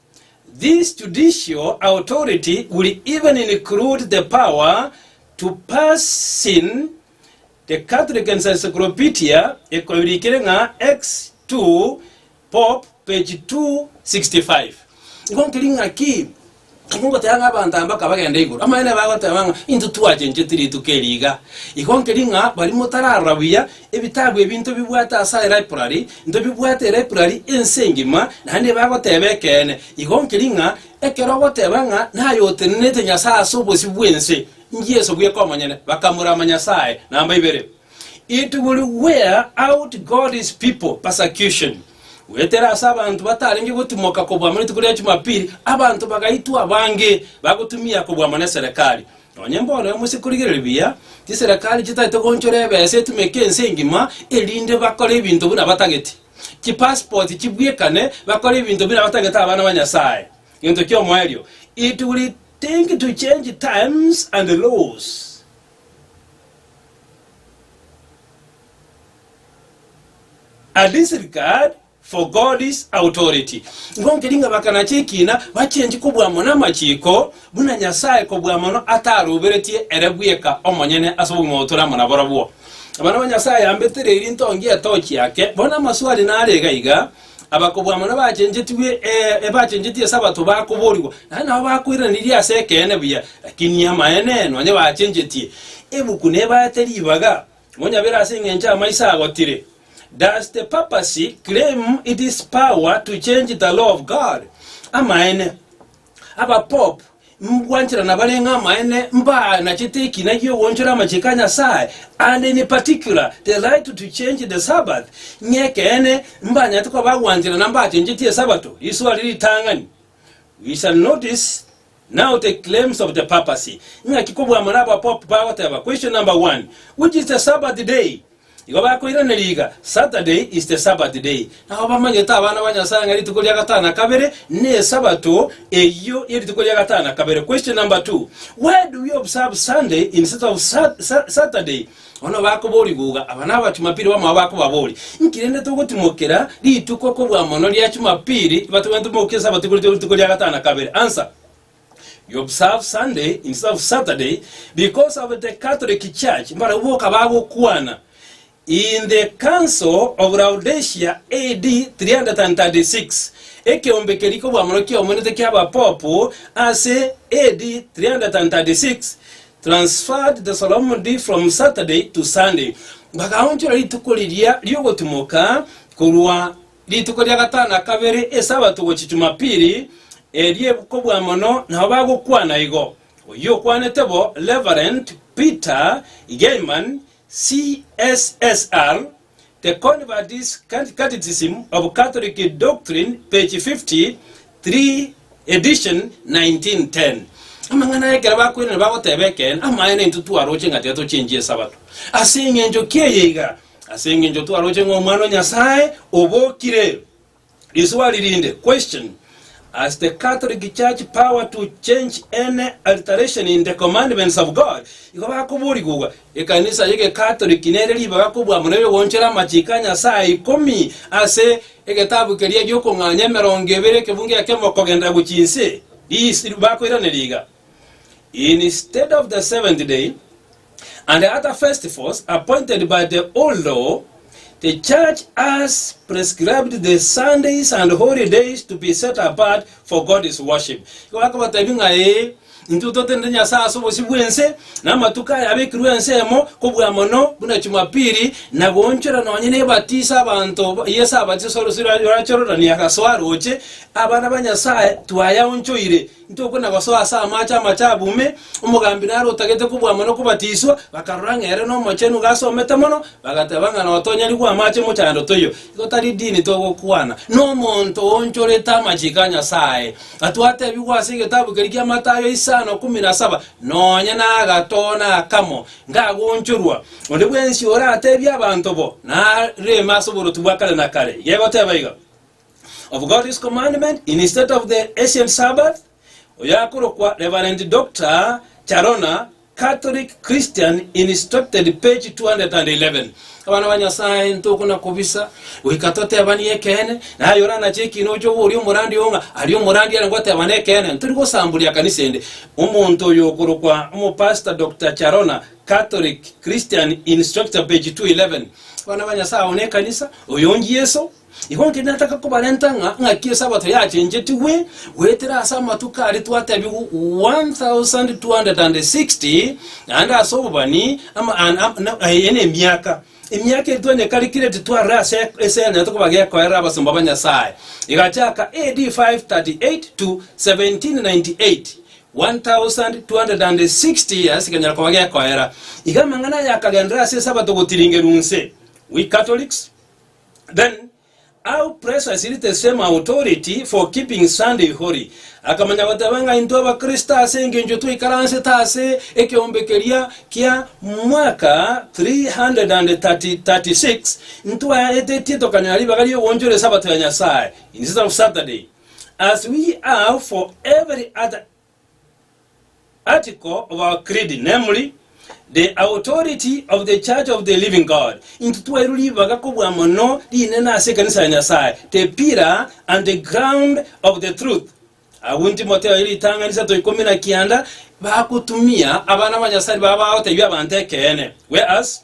A: This judicial authority will even include the power to pass sin The Catholic Encyclopedia ekoirikire ng'a ex. ii, Pop. Page 265. Igo nkeri ng'a ki? Igo ngoteba ng'a abanto aba baka bagenda igoro. Amaene bagoteba ng'a intwe twachencheti rituko eri iga. Igo nkeri ng'a baria motararora buya Ebitabu ebi ntobibwate ase elibrary, ntobibwate elibrary ense engima, naende ebe agoteba ekeene. Igo nkeri ng'a ekero ogoteba ng'a naye otenenete Nyasae ase obosio bw'ense, n'Yeso bweka omonyene, bakamurama Nyasae. Namba ibere. It will wear out God's people, persecution. Goetera ase abanto batarenge gotimoka kobua amo rituko ria Jumapili, abanto bagaitwa abange bagotumia kobua mono eserekari. Nonye mbono emosie korigereria buya chiserekari chitagete goonchora ebesa etumeke ense engima erinde bakore ebinto buna batageti, chipasipoti chibwekane, bakore ebinto buna batagete abana ba Nyasae. Gento ki'omoerio, it will think to change times and laws. A disregard For God's authority. Igo nkeri ng'a bakanache ekiina bachenche kobua mono amachiiko, buna Nyasae kobua mono ataroberetie ere bweka omonyene ase obogima obo tore amo naborobwo. Abana ba Nyasae ambete riiri ntongi etochi yake. Bono amaswali nare iga iga, Abakobua mono bachenchetigwe, ee, bachenchetigwe Sabato bakoborigwa, naende nabo bakoiraneririe ase ekeene buya, lakini amaene, nonye bachenchetie ebuku nebaete ribaga, Monyabere ase engencho amaiso agotire. Does the papacy claim it is power to change the law of God? Amaene. Abapope mbwanchera nabarenge amaene mbaanachete ekina giogoonchora amachiko a Nyasae and in particular the right to change the Sabbath. Ng'ekeene mbanyarete koba abwanchera na mbachenchetie Esabato, risoa riri ritang'ani. We shall notice Now take claims of the papacy. Ing'aki kobwamora abapope bagoteba, Question number one, Which is the Sabbath day? Igo bakoiraneria iga, Saturday is the Sabbath day. Nao bamanyete abana ba Nyasae ng'a rituko ria gatano na kabere n'Esabato eyio ye rituko ria gatano na kabere. Question number two, Why do we observe Sunday instead of Sa- Sa- Saturday? Bono bakoboria guga aba naba Chumapiri bamao bakobaboria, Inki rende togotimokera rituko kobua mono ria Chumapiri ibatwe bainto mokia Esabato igoro tiori rituko ria gatano na kabere? Answer, You observe Sunday instead of Saturday because of the Catholic Church mbarabwo boka bagokwana in the Council of Laodicea AD 336 ekeombe keria kobua mono kiaomonete kia abapopu ase AD 336 Transferred the solemn day from Saturday to Sunday, bakaonchora rituko riria ri'ogotimoka korwa rituko ria gatano na kabere Esabato gochia Jumapili, erio kobua mono nabo bagokwana igo. Oyio okwanete bo Reverend Peter Geyman, CSSR. The Convert's Catechism of Catholic Doctrine, page 53, edition 1910, Amang'ana aya ekero bakwenire bagoteba ekeene, amaene intwe twaroche ng'a tetochenchi Esabato. Ase engencho ki eye iga? Ase engencho twaroche ng'a Omwana o Nyasae obokire. Riswali rinde, Question, Has the Catholic Church power to change any alteration in the commandments of God? Igo bakoborigwa, Ekanisa y'Egekatoliki nere ribaga kobua muna ebigoonchore amachiko a Nyasae ikomi ase egetabu keria gi'okong'anya emerongo ebere ekebungo ekemo kogenda gochia inse? Ris. Bakoiraneria iga. Instead of the seventh day, and other festivals appointed by the old law, the church has prescribed the Sundays and holy days to be set apart for God's worship. Igo akabatebi ng'a ee, intwe totenete Nyasae ase obosio bw'ense, na amatuko aya abekirwe ensemo, kobua mono buna Chumapili, na goonchora nonye nebatiso abanto ba- Yeso abatisa ase orosio rwa- rwa Chorodani agasoa roche, abana ba Nyasae twayaonchoire Intokwe na gosoa ase amache amachabu ime, omogambi nare otagete kobwama na kobatiswa, bakarora ng'a ere nomochenu iga asomete mono, bagateba ng'a notonyarigwe amache mochando toiyo, igo tari dini togokwana, nomonto oonchorete amachiko a Nyasaye, atwatebigwa ase egetabu keria kia Matayo isano ikomi na saba, nonya nagatoona akamo, ngagonchorwa, onde bwensi oratebie abanto bo, Nareme ase oboruoti bwa kare na kare, iga egoteba iga. of God's commandment instead of the ancient Sabbath, oyakorokwa Reverend Doctor Charona, Catholic Christian Instructed page 211. Abana ba Nyasaye ntokona kobisa goika totebanie ekeene, naye ore anache ekiina oche obo oria omorandi oo ng'a aria omorandi ere ngotebana ekeene, ntori gosamburia ekanisa ende. Omonto oyo okorokwa Omopastor Doctor Charona, Catholic Christian Instructor page 211. Abana ba Nyasaye, ao nekanisa, oyo nchieso, Igo inche nataka kobarenta ng'a ng'aki Esabato yachenchetigwe goetera ase amatuko aria twatebigwa 1260, naende ase obobani ama- an- am- na- eye nemiaka emiaka eri twanyekarikire titwarire ase ase enyarete koba gekoerera abasomba ba Nyasae. Egachaka AD 538 to 1798, 1260 years kekanyara koba gekoera. Iga amang'ana aya akagenderera ase Esabato gotiringerwa inse, we Catholics, Then how precious is the same authority for keeping Sunday holy. Akamanya goteba ng'a intwe abakristo ase engencho twaikaransete ase ekeombe keria kia mwaka 336 ntwaetetie tokanyora ribaga ri'ogoonchora esabato ya Nyasae, instead of Saturday, as we have for every other Article about creed, namely, the authority of the Church of the Living God. Intwe twairwe ribaga kobua mono rinene ase ekanisa ya Nyasae, the pillar and the ground of the truth. Agwo Timotheo ere ritang'ani isato ikomi na kianda bagotumia abana ba Nyasae babagoteebia abanto ekeene. Whereas,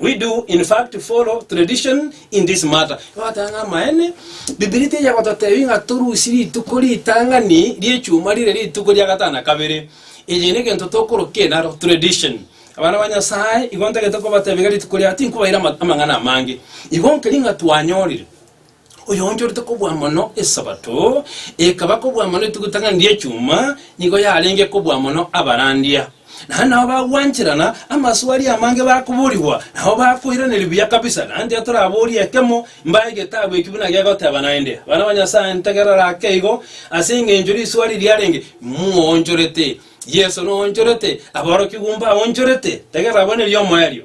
A: We do in fact follow tradition in this matter. Twateba ng'a amaene, Bibilia teiya gototebia ng'a torusie rituko ritang'ani ri'echuma rire rituko ria gatano na kabere. Eye negento tokorokia enaro, tradition. Abana ba Nyasae igo ntagete kobatebia iga rituko ria tinkobaira ama- amang'ana amange. Igo nkeri ng'a twanyorire. Oyoonchorete kobua mono Esabato, ekaba kobua mono etuguta ng'a ndie chuma, nigo yarenge kobua mono abarandia. Naende nabo bagwancherana amasu aria amange bakoborigwa, nabo bakoiraneria buya kabisa. Naende tiga toraborie ekemo, mbae egetabu ekio buna gegoteba naende. Abana ba Nyasae, ntegerera ake igo, ase engencho riswa eri riarenge, Moonchorete. Yeso noonchorete. Aborokigwa mbaonchorete. Tegerera bono erio omoerio.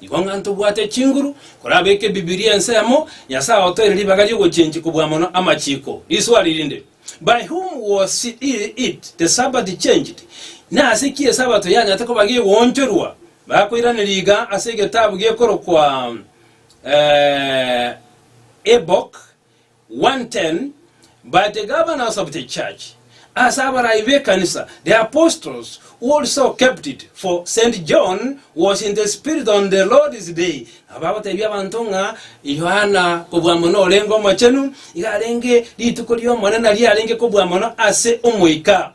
A: Nigo ng'a ntobwate chinguru, korabeke Ebibilia ensemo, Nyasae otoeire ribaga ri'ogochenchia kobua mono amachiko. Riswali rinde, By whom was it the Sabbath changed? Nase ki Esabato yanyarete koba gegoonchorwa? Bakoiraneria iga ase egetabu gekorokwa Habakkuk. 1:10, By the governors of the church, ase abarai b'ekanisa, the apostles who also kept it, for Saint John was in the Spirit on the Lord's day. Nabo agoteebia abanto ng'a Yohana kobua mono orenge omochenu, iga arenge rituko ri'Omonene riarenge kobua mono ase Omoika.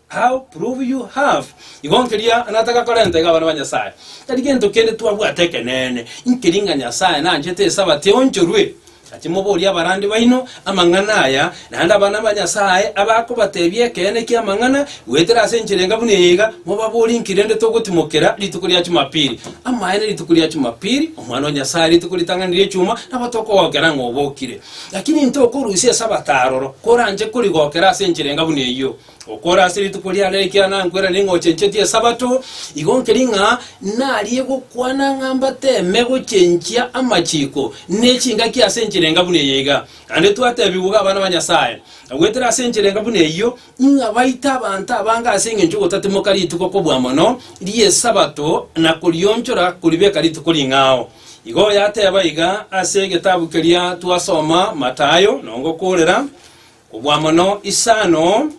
A: How prove you have? Igo nkeria nataka korenta iga abana ba Nyasae, tari gento kende twabwate ekeneene, inkeri ng'a Nyasae nanchete Esabato eonchorwe. Gaki moborie abarandi baino amang'ana aya, naende abana ba Nyasae abakobatebia ekeene ki'amang'ana, goetera ase enchera enga buna eye iga, mobaborie inki rende togotimokera rituko ria Chumapili. Amaene rituko ria Chumapili, Omwana o Nyasae rituko ritang'ani ri'echuma, nabo tokogokera ng'a obokire. Gaki ninto okorusia Esabato aroro, koranche korigokera ase enchera enga buna eyio? Okore ase rituko riane ekiagera nankwera ning'ochenchetie Esabato, igo nkeri ng'a narie gokwana ng'a mbateme gochenchia amachiko ne chingaki ase enchera enga buna eye iga. Naende twatebigwa abana ba Nyasae, goetera ase enchera enga buna eyio, ng'a baite abanto abange ase engencho y'ogotatimoka rituko kobua mono ri'Esabato na korionchora koribeka rituko ring'ao. Igo yateba iga ase egetabu keria twasoma, Matayo, nongokoorera. Kobua mono isano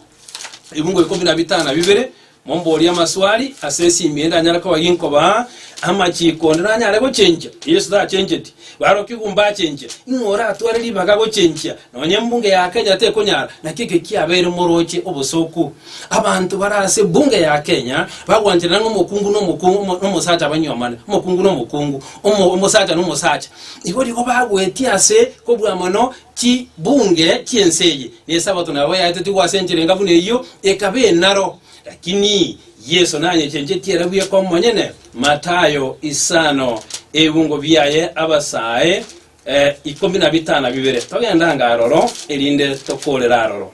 A: ebingo ikomi na bitano na bibere, momborie amaswali ase esimi ende anyare koba ginkoba amachiko onde nanyare gochenchia. Yesu tachencheti. Barokigwa mbachenchia. Ing'o oratware ribaga gochenchia? Nonya embunge ya Kenya tekonyara. Naki eke kiabeire moroche obosooku. Abanto bare ase ebunge ya Kenya bagwancherana ng'a omokungu na omokungu, omo- omosacha banywomane, omokungu na omokungu, omo- omosacha na omosacha. Igo rigo bagoetia ase kobua mono Chibunge chi'ense eye n'Esabato nabo yaetwe tigo ase enchera enga buna eyio ekaba enaro. Lakini Yeso nanyechenchetie era bweka omonyene, Matayo isano, ebibungo biaye abasae eh, ikomi na bitano na bibere. Togendanga aroro, erinde tokorera aroro.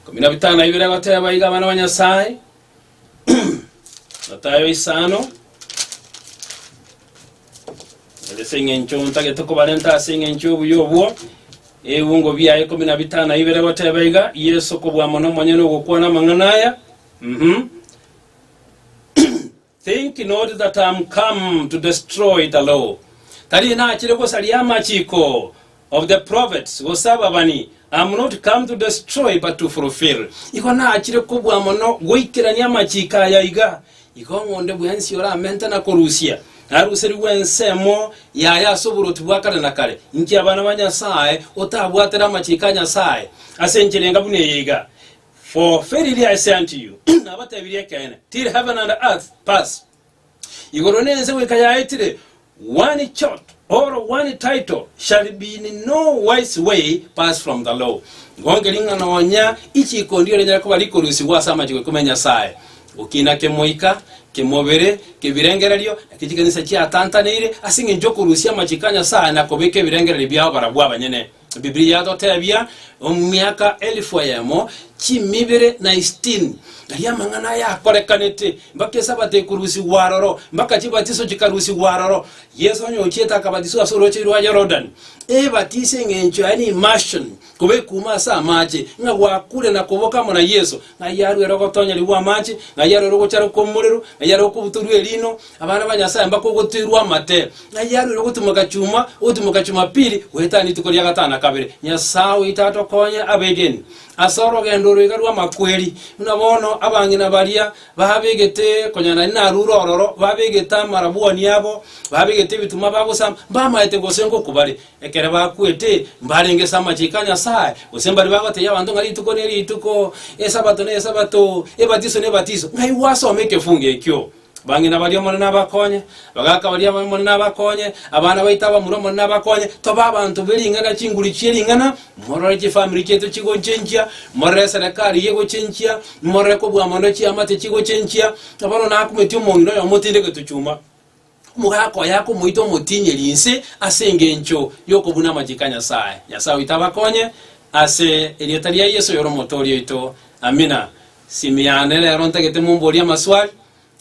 A: Ikomi na bitano na bibere agoteba iga abana ba Nyasae, Matayo isano erese eng'encho ntagete kobarenta ase eng'encho y'obuya obwo ebiungo bia ikomi na bitano na ibere goteba iga yeso kobua mono omonyene ogokwana amang'ana aya mhm think not that am come to destroy the law tari nachire gosaria amachiko of the prophets, gose ababani, am not come to destroy, but to fulfil. Igo naachire kobua mono goikerania amachiiko aya iga, igo ng'onde bwensi oramente na korusia, aruserigwe ensemo yaye ase oborwoti bwa kare na kare. Inki abana ba Nyasae otabwatere amachiiko a Nyasae? Ase enchera enga buna eye iga, For verily I say unto you, nabatebirie ekeene, till heaven and earth pass, Igoro na ense goika yaetire, one chot or one title shall be in no wise way pass from the law, ngonkeri ng'a nonya ichiiko ndiyo rinyare koba rikorusigwa ase amachiko ikomi a Nyasae, gokina kemoika, kemobere, kebirengererio, na kechikanisa chiatantaneire, ase engencho y'okorusia amachiko a Nyasae na kobeka ebirengererio biao barabwo abanyene. Bibilia yatotebia omiaka elifu eyemo chimibere na isitini, aria amang'ana aya akorekanete, mpaka esabato ekorusigwa aroro, mpaka chibatiso chikarusigwa aroro. Yeso onye ochiete akabatiswa ase orwacheri rwa Yorodani. Ebatiso eng'encho yaye ne immersion, koba ekuuma ase amache, ng'a gwakure na koboka amo na Yeso, ng'ai arwere ogotonyerigwa amache, ng'ai arwere ogocharekwa omorero, ng'ai arwere okobutorwa erino, Abana ba Nyasae mbakogotoirwa amate, ng'ai arwere ogotimoka chuma, ogotimoka Chumapili, goetana rituko ria gatano na kabere. Nyasae oito atokonye abegeni ase orogendo oro iga rw'amakweri, buna bono abang'ina baria babegete konya naende narure ororo, babegete amarabwani abo, babegete ebitumwa bagosamba, mbamaete gose ngoku bare. Ekero bakwete, mbarenge ase amachiko a Nyasae, gose mbare bagotebia abanto ng'a rituko nerituko, Esabato nesabato, ebatiso nebatiso, ng'ai gwasoma ekefungo ekio? Bang'ina baria Omonene abakonye, abagaaka baria Omonene abakonye, abana baito abamura Omonene abakonye, tobe abanto be ring'ana chinguru chie ring'ana, morore chifamiri chiaito chigochenchia, morore eserekari eye egochenchia, morore kobua mono chiamate chigochenchia, bono nakumetie omong'ina oyo omotinde getuchuma, omogaka oye akomoita omotinyeri inse ase engencho y'okobuna amachiko a Nyasae. Nyasae oito abakonye ase erieta ria Yeso oyore Omotooria oito. Amina. Simi yane rero ntagete momborie amaswali,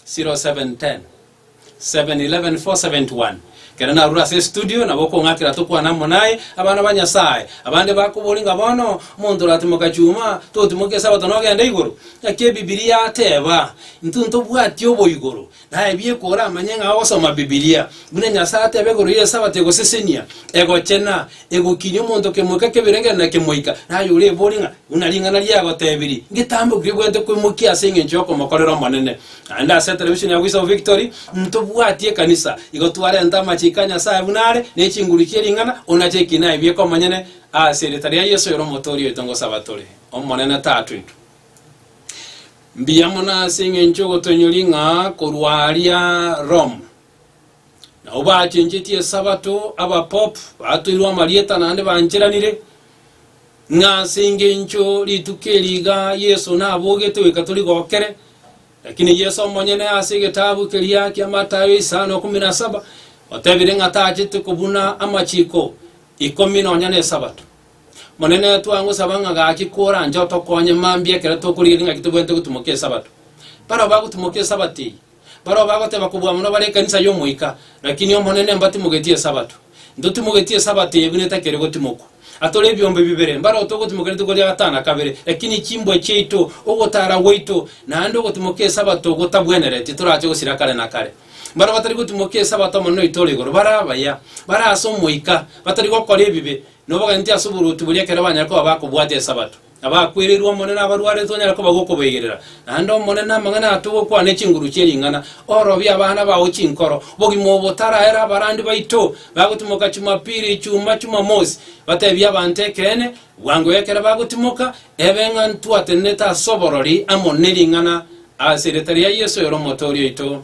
A: 0710 711 471. Ekero narure ase estudio, nabo okong'akera tokwane amo naye, abana ba Nyasae. Abande bakobori ng'a bono, omonto oratimoka chuma, totimoke esabato nogenda igoro. Naki Ebibilia yateba, Intwe ntobwati oboigoro. Naebie koramanye ng'a ogosoma Bibilia, buna Nyasae ateba igoro y'Esabato egosesenia, egochena, egokinia omonto kemoika kebirengereri na kemoika, na aye orebori ng'a, buna ring'ana riagotebirie, ngetambe okwo kebwenerete kwemokia ase engencho y'okomokorera Omonene. Naende ase etelevishoni ya Voice of Victory, ntobwati ekanisa, igo twarenta amachiko a Nyasae buna are, ne chinguru chie ring'ana, ona cheki naebie komonyene ase erieta ria Yeso ere Omotooria oito ngosaba tore, Omonene Tatoito. Mbuya mono ase engencho y'ogotonyori ng'a korwa aaria Roma nao bachenchetie Esabato, abapopu batoirwe amarieta naende bancheranire, ng'a ase engencho rituko eri iga Yeso nabogete goika torigokere, lakini Yeso omonyene ase egetabu keria kia Matayo isano ikomi na saba otebire ng'a tachete kobuna amachiko ikomi nonya n'Esabato. Monene, twangosaba ng'a gaki koranche otokonye mambia ekero tokorigereria ng'aki tobwenerete gotimoka Esabato. Barabwo bagotimoka Esabato eye, barabwo bagoteba kobua mono bare ekanisa y'Omoika, Lakini Omonene mbatimogetie Esabato. Ntotimogetie Esabato eye buna etakeri gotimokwa. Atore ebiombe bibere, mbarao togotimoka rituko ria gatana kabere, lakini chimbwa chiaito, ogotara gwaito, naende ogotimoka Esabato gotabwenereti, torache gosira kare na kare. Baria batari gotimoka Esabato Omonene oito ore igoro, bare abaya, bare ase Omoika, batari gokora ebibe, Nobogati ase oboruoti boria ekero banyare koba bakobwata Esabato. Abakwereirwe Omonene na abarwarete tonyare koba gokoboigerera. Naende Omonene amang'ana ato gokwana ne chinguru chie ring'ana, orobie abana bao chinkoro. Bogima obo taraera abarandi baito bagotimoka Chumapiri, Ichuma, Chumamosi. Batebie abanto ekeene bwango ekero bagotimoka, ebe ng'a ntwatenenete ase oborori amo ne ring'ana, ase erieta ria Yeso oyore Omotoori oito.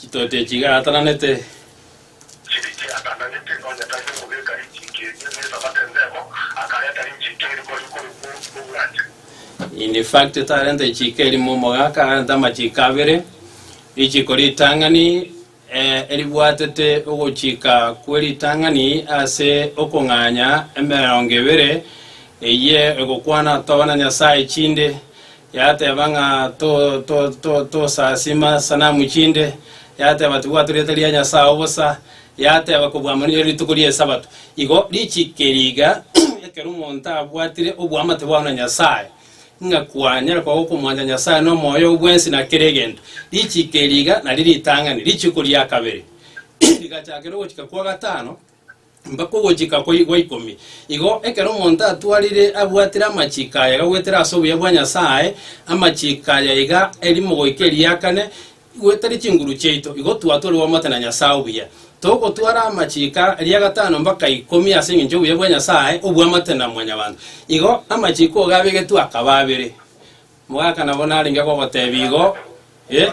A: Chitoti echi igaatananete. Chiriche
B: atananete nonya tari omogeka rinchiki eria n'esabato ensemo, akarenta rinchiki erimo aria korwa omoruti b'obwanchani.
A: In fact, tarenta echiiko erimo omogaka, arenta amachiiko abere, richiiko ritang'ani eh, eribwatete ogochika kwe ritang'ani ase okong'anya emerongo ebere, eye egokwana atoba na Nyasae chinde, Yateba ng'a tosasima sanamu chinde, yateba tibwatu rieta ria Nyasae obosa, yateba kobwamwa nere rituko ria Esabato. Igo richiikeri iga ekero omonto abwatire oboamate bwao na Nyasae, ng'a kwanyare koba okomwancha Nyasae nomoyo oo bwensi na kera egento. Richiikeri iga nario ritang'ani, richiiko ria kabere rigachakire ogochika kwa gatano, Mpaka ogochika kwa kwa ikomi. Igo ekero omonto atwarire abwatire amachiko aya gagwetire ase obuya bwa Nyasae, amachiko aya iga erimo goika eriakane, gwetire chinguru chiaito, igo twatwarigwe omote na Nyasae obuya. Togotwara amachiko ria gatano mpaka ikomi ase engencho y'obuya bwa Nyasae obwamate na mwanyabanto. Igo amachiko iga abegetwe akaba abere. Mogaka nabo narenge gogotebia igo, Eh?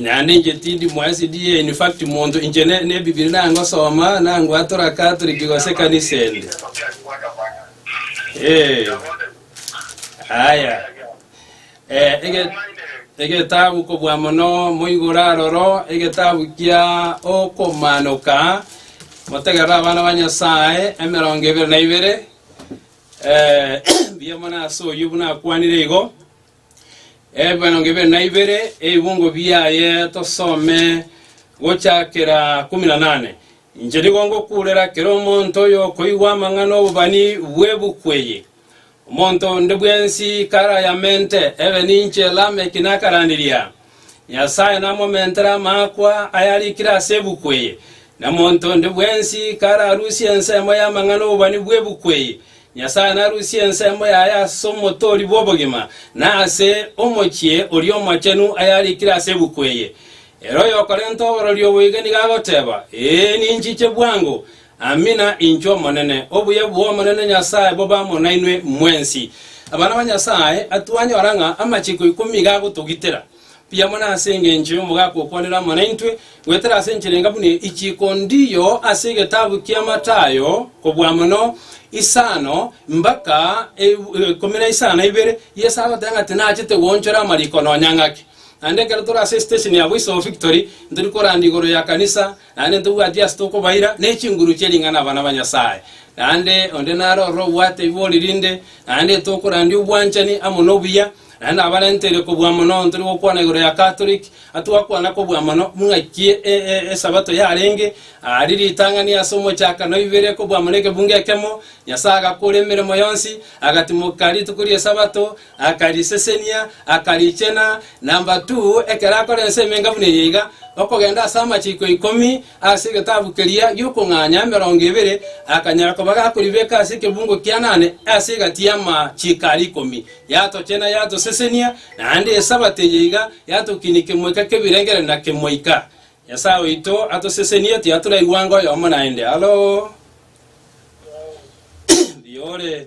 A: Naende inche tindi mwaesidi ye infact monto inche ne ne bibiri nangosoma nangwatora catholic gose ekanisa ende eh aya eh ege egetabu kobua mono moigora aroro egetabu kia okomanoka motegerera abana ba nyasaye emerongo ebere na ibere eh mbuya mono ase oyio buna akwanire igo Ebimanonge ibere na ibere, ebibungo biaye tosome gochakera kumi na nane. Inche nigo ngokurera kera omonto oyokoigwa amang'ana 'obobani bw'ebuku eye. Omonto onde bwensi karayamente, ebe ninche Lameki nakaranderia. Nyasae namomentere amaakwa ayarikire ase ebuku eye, na monto onde bwensi kararusie ensemo y'amang'ana 'obobani bw'ebuku eye. Nyasae narusie ensemo yaye ase Omotoori bw'obogima, na ase Omochie oria Omochenu ayarikire ase ebuku eye. Ere oyokorenta oborori obo iga nigo agoteeba, Ee, ninchiche bwango, Amina, inchwo Omonene. Obuya bw'Omonene Nyasae bobe amo nainwe mwensi. Abana ba Nyasae, twanyora ng'a amachiko ikomi iga agotogitera. Mbuya mono ase engencho y'omogaka okwanire amo naintwe, goetera ase enchera enga buna echiiko ndiyo ase egetabu kia Matayo, kobua mono isano mbaka ikomi na isano na ibere. Yeso agoteba ng'a tinachete goonchora amariko nonya ng'ake. Naende ekero tore ase esitesheni ya boisobo Victory, ntori koranda igoro ya kanisa, Naende ntobwati ase tokobaira ne chinguru chie ring'ana abana ba Nyasae, naende onde naro ororo obwate ibori rinde, naende tokorandia obwanchani amo nobuya, naende nabarenteire kobua mono ntore gokwana igoro ya Catholic, atwakwana kobua mono buna ki esabato yarenge, ari ritang'ani ase omochaka noibere kobua mono ekebungo ekemo, Nyasae agakora emeremo yonsi, agatimoka rituko riesabato, Akarisesenia, akarichena, number two, ekero akora ense emenga buna eye iga, okogenda ase amachiiko ikomi ase egetabu keria gi'okong'anya emerongo ebere, akanyara koba gakoribeka ase ekebungo kia nane ase egati y'amachiiko aria ikomi. Yatochena, yatosesenia, naende Esabato eye iga yatokinia kemoika k'ebirengererio na kemoika. Nyasae oito atosesenie, tiaturaigwa anga oyomo naende. Hallo! Mbuya ore.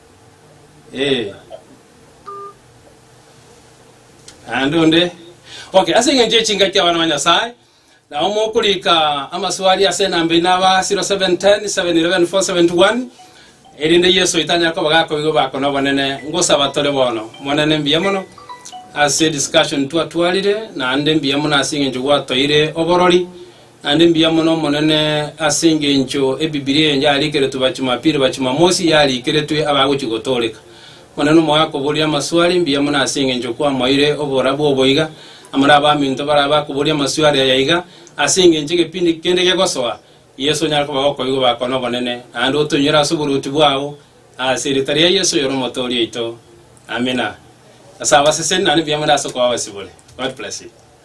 A: Eh. Naende onde. Okay, ase eng'encho y'echingaki abana ba Nyasae, nabo mokorika amaswali ase enamba eye naba 0710 711 471 erinde Yeso oito anyare koba gakoigwa bako nobonene. Ngosaba tore bono. Monene mbuya mono ase discussion twatwarire naende mbuya mono ase eng'encho gwatoire oborori Naende mbuya mono Omonene, ase engencho Ebibilia eye yariikeretwe Bachumapili, Bachumamosi yariikeretwe abagochia gotooreka. Omonene omogakoboria amaswali, mbuya mono ase engencho kwamoeire oborabu obo iga, amare abaminto baraba bakoboria amaswali aya iga, ase engencho egepindi kende gegosoa, Yeso onyare koba gokoigwa bako nobonene, naende otoinyore ase oboruoti bwao, ase erieta ria Yeso oyore Omotoori oito. Amina. Ase abaseseni, naende mbuya mono ase okoba abasibore. God bless you.